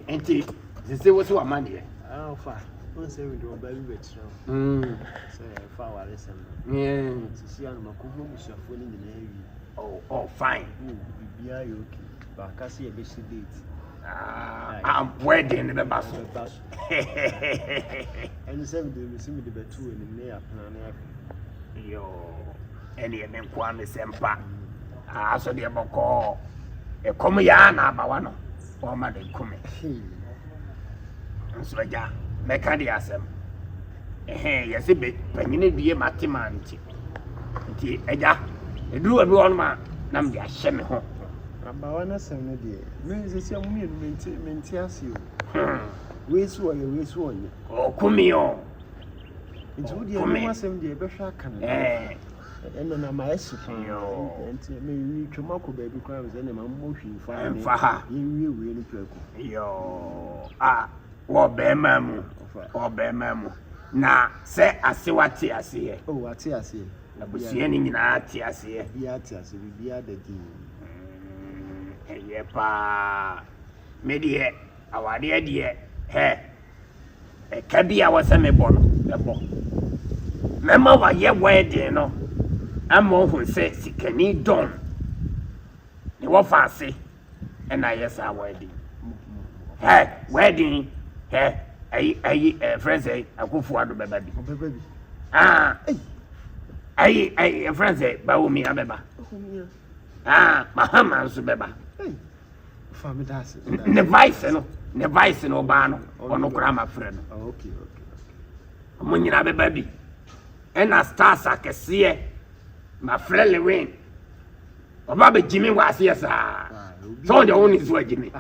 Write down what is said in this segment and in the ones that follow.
nti sese wosi wa ma deɛ. ɔfa wọn sɛ mi de ɔba bi bɛ kyerɛ o. sɛ ɛfa awari sɛm no. sisi anuma kò hó busuafo ni nyinaa wi. oh oh fine. wo bibi ayɛ ok baaka si ɛbɛ si date. aboa ɛdeɛ ne bɛ ba so. ɛbɛ ba so. ɛni sɛ mi de mi si mi de bɛ tu ɛni ne yɛ apena ne yɛ. yoo ɛni yɛ mi nkoa mi sɛ mpa. Naaso deɛ bɔkɔɔ ekɔm yɛ a na abawa no ɔɔma no eku me. Nso agya, mɛka deɛ asɛm. Ehee, yɛse be panyin adue ma te ma nti. Nti agya, eduru baabi wɔ hɔnom a na mede ahyɛ me ho. Abawa no asɛm no deɛ, me sɛsi a mo mmienu mente mente ase o. Hmm. Wei so ɔyɛ, wei so ɔnyɛ. Ɔɔku me o. Nti wo deɛ, ɛno ho asɛm deɛ, bɛhwɛ aka no. Ɛɛ. Ɛnna na mayɛ se paa. Nti meretwam akɔ baabi koraa me sɛ ne ma mmɔ hwee mfa ha mfa ha yɛnwie wei no prɛko. a wɔ bɛrima mu wɔ bɛrima mu na sɛ asewa te aseɛ. o oh, ate aseɛ. abusua no nyinaa te aseɛ. biara te aseɛ biribiara da din. Mm, ɛyɛ paa me deɛ awadeɛ deɛ hɛ. Ɛka bi a ɛwɔ sɛ mebɔ no, mɛbɔ. Mɛma wayɛ wedding no ama ɔhu sɛ sikani Don ne wɔfa ase ɛna ayɛ saa wedding. Hɛ, wedding, hɛ, ayi, ayi, ɛfrɛ sɛ akofo ado bɛba bi. Ah, ayi, ayi, ɛfrɛ sɛ Bawumia bɛba. Ah, Mahama nso bɛba. ne vice no ne vice no ɔbaa no ɔno koraa ma frɛ no ɔmo nyinaa bɛba bi ɛna stars akɛseɛ ma frɛ lewin ɔba bɛ gyimi wɔ aseɛ saa sɛ ɔde ɔwo ne so agyimi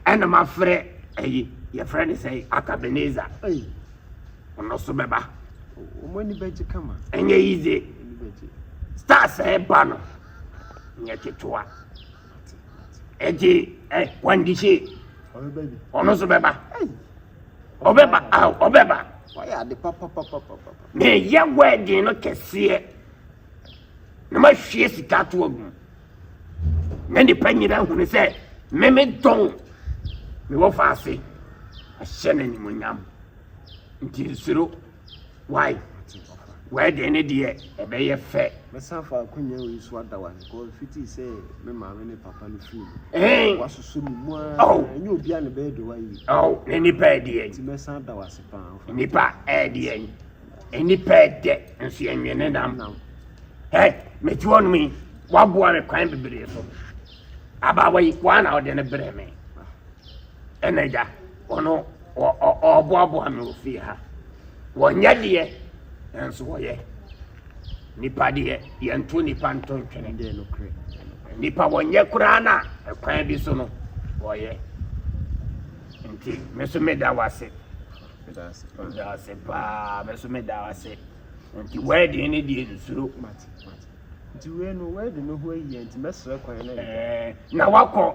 ɛna ma frɛ ɛyi yɛfrɛ ne sɛ akabeneza ɔno so bɛba ɛnyɛ yize stars ɛba no nyɛ ketewa. Ɛti ɛ wandi se ɔno nso bɛba ɔbɛba aw ɔbɛba. Wayɛ ade papapapapa. Meyɛ wɛɛden no kɛseɛ na mahwie sika ato agu mu na nipa nyina hunu sɛ meme dɔn mewɔ faase ahyɛ no animonyam nti nsuro. Wai wɛɛden ne deɛ ɛbɛyɛ fɛ. Mɛsan fa akonnwa wei so ada wa kɔ fiti sɛ me maame ne papa no firi mu. Ɛn. Wasosɔ mu mu a. Ɔw. Ɛnyɛ obi a ne bɛyɛ de wa yi. Ɔw ne nipa ɛdeɛ. Ti mɛsan ada wa se paa. Nipa ɛdeɛ. Nipa ɛdɛ nso yɛ nwene ne nam. Ɛ mɛti wɔn mi waboa me kwan bebree so. Abaawa yi wɔn na ɔde ne brɛ me. Ɛna agya ɔno ɔɔboaboa me wɔ fie ha. Wɔnyɛ deɛ nanso wɔyɛ. Nipa deɛ yɛnto nipa nto ntwene. Nipa wɔnyɛ koraa na ɛkwan bi so no wɔyɛ. Nti me nso meda wo ase. Meda ase paa me nso meda wo ase. Nti wɛɛden ne deɛ nsuro. Nti wei no wɛɛden no ho ayi nti mɛsrɛ kwan na. Na wakɔ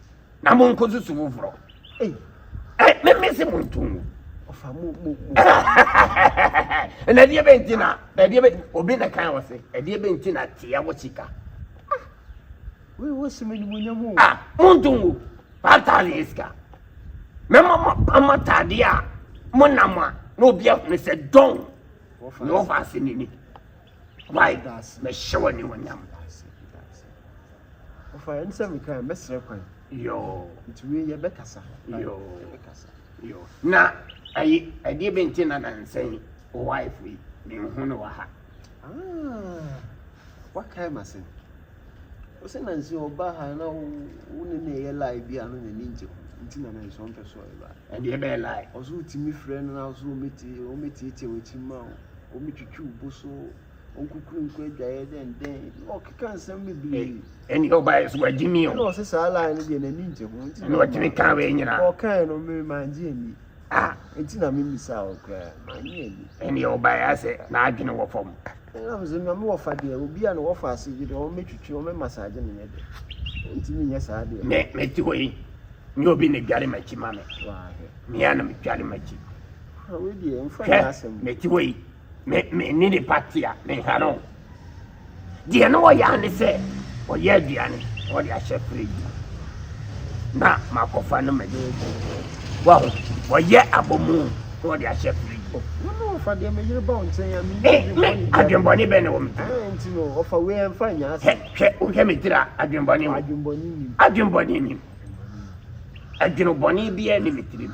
na mo nko susu foforɔ meme se mo nto ngu na ɛdeɛ bɛ nti na ɛdeɛ bɛ obi na kan wɔ se ɛdeɛ bɛ nti na teɛ wɔ sika ah, mo nto ngu five thousand yɛ sika mɛma mo ama taadeɛ a mo nam a na obi ahunu sɛ dɔn na ɔfa ase n'ani Wai mɛhyɛ wo animuonyam. Ɔfa yɛn sɛ meka yɛn bɛsrɛ kwan. Yoo. Nti wei yɛ bɛkasa. Yoo. Yɛ bɛkasa. Yoo. Na ayi ɛdeɛ bɛ nti na nansɛn o wife yi ne nhu no wɔ ha. Ah, wakae ma sɛn? Ɔse na nse ɔba ha na wo ne no ɛyɛ lie bi a na n'ani ngye ho nti na nanso ɔmpɛ sɛ ɔba. Ɛnde ɛbɛyɛ lie. Ɔse wotumi frɛ no na ɔse ɔmɛtiatia w'akyi mma wo, ɔmɛtwitwi wo bo so, ɔnkukuru nkɔ adwaeɛ dɛndɛn na ɔkeka nsɛm bebree. Ɛnde ɔbaeɛ so wagye mi o. Ɛna ɔse saa lie no deɛ n'ani ngye ho nti na ɔmma. Ɛna ɔgyimi kaa wei nyinaa. Ɔkaeɛ no me mangye anni. Ah, eti na mi misa o kura, ma n yɛ ni. Ɛni yɛ ɔba yɛ asɛ, na adwene wɔ fam. Ɛna mi sɛ, nyame wɔ fa deɛ, obi a na wɔ fa ase gye deɛ, wɔn mɛ twitwi, wɔn mɛ masaagye mi nyɛ deɛ. Nti mi nyɛ saa deɛ. Mɛ, mɛ ti hɔ yi, nyɛ obi na dware m'akyi ma mi. Waa hɛ. Mi a na mi dware m'akyi. Hwɛ, wei deɛ, nfa nyɛ asɛm. Hwɛ, mɛ ti hɔ yi. Me me ne nipa te a menha no deɛ na ɔyɛ a ne sɛ ɔyɛ aduane na ɔde ahyɛ fridge mu na makɔfa no mɛde wahu ɔyɛ abomu na ɔde ahyɛ fridge mu. Wọn ɔfa deɛ me yere ba wo nkyɛn a me yi eh, adwembɔne bɛn. Adwembɔne bɛn na wɔ me ti. Ɛɛ eh, nti no ɔfa wei ɛnfa nyɛ ase. Hwɛ hwɛ wohwɛ me tiri a adwembɔne wɔ. Adwembɔne nim. Adwembɔne nim. Adwenobɔne biara ni me tirim.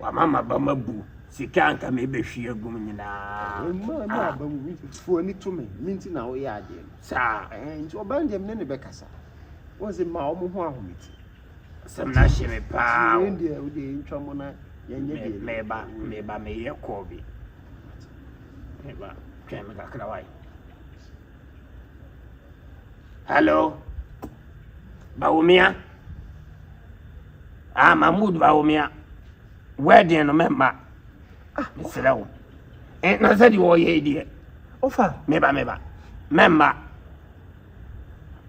Wama m'abam abu, sika a anka merebɛhwie agu mu nyinaa. Mmaa ne ah. abam bi fo ani to me, me nti na woyɛ adeɛ no. Saa. Ɛhɛn nti ɔbaa no deɛ me ne ne bɛkasa. Wɔn sɛ mmaa wɔn ho ahome ti. Sɛm na hyɛ me paa. Yɛn deɛ wo deɛ yɛntwa mo na yɛnyɛ deɛ. Meba meba meyɛ kɔɔ bi. Meba twɛn me kakra wae. Hello, Bawumia. Ah, Mahmoud Bawumia. Wedding no mɛmma. Ah, mesrɛ wo. Eh, na sɛ deɛ wɔyɛ yi deɛ. Ofa. Meba, meba. Mɛmma.